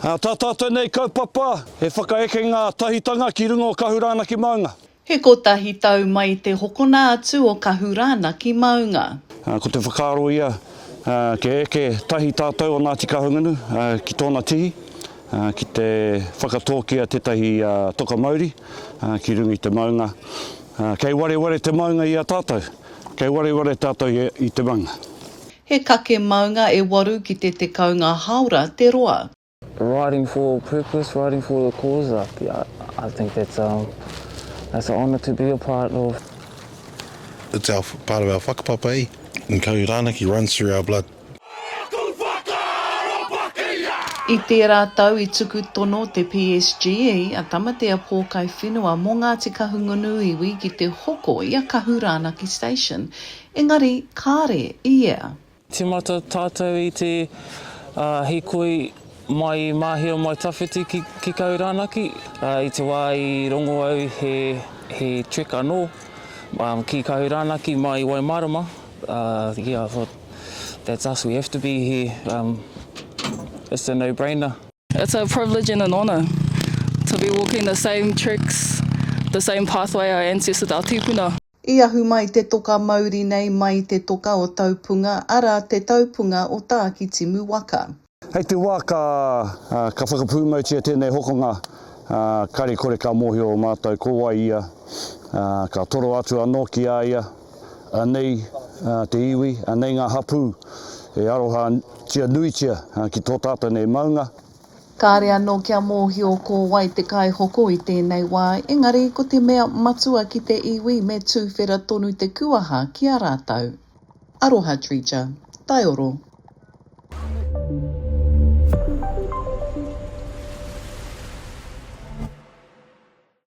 Tā tātou nei kaupapa, he whakaekenga tahitanga ki runga o Kahurana ki Maunga. He kotahi tau mai te hokona atu o Kahurana ki Maunga. Ko te whakaaro ia, kia eke tahi tātou o Ngāti Kahungunu ki tōna tihi, ki te whakatōkia tētahi toka mauri ki runga i te maunga. Kei wareware te maunga i a tātou, kei wareware tātou i te maunga. He kake maunga e waru ki te tekau ngā hāora te roa. Writing for a purpose, writing for a cause, I, I think that's a, that's a honour to be a part of. It's our, part of our whakapapa, eh? And Kahu Ranaki runs through our blood. I tērā tau i tuku tono te PSGE a Tamatea Pōkai Whenua mō Ngāti Kahungunu iwi ki te hoko i a Kahu Rānaki Station. Engari, kāre i ea. Timata tātou i te hikoi mai i Māhia mai tawhiti ki Kaurānaki. I te wā i rongo au he trek anō ki Kaurānaki mai Waimārama, yeah I thought that's us, we have to be here, it's a no brainer. It's a privilege and an honour to be walking the same treks, the same pathway our ancestors, our tīpuna. I ahu mai te toka mauri nei mai te toka o Taupunga, arā, te taupunga o Tākitimu waka. Hei te wā ka ka whakapūmautia tēnei hokonga, kare kore ka mōhio o mātou ko wai ia, ka toro atu anō ki a ia, anei te iwi, anei ngā hapū e arohatia nuitia ki tō tātou nei maunga. Kāre anō kia mōhio ko wai te kaihoko i tēnei wā, engari ko te mea matua ki te iwi me tūwhera tonu te kuaha ki a rātou. Aroha Treacher. Taioro.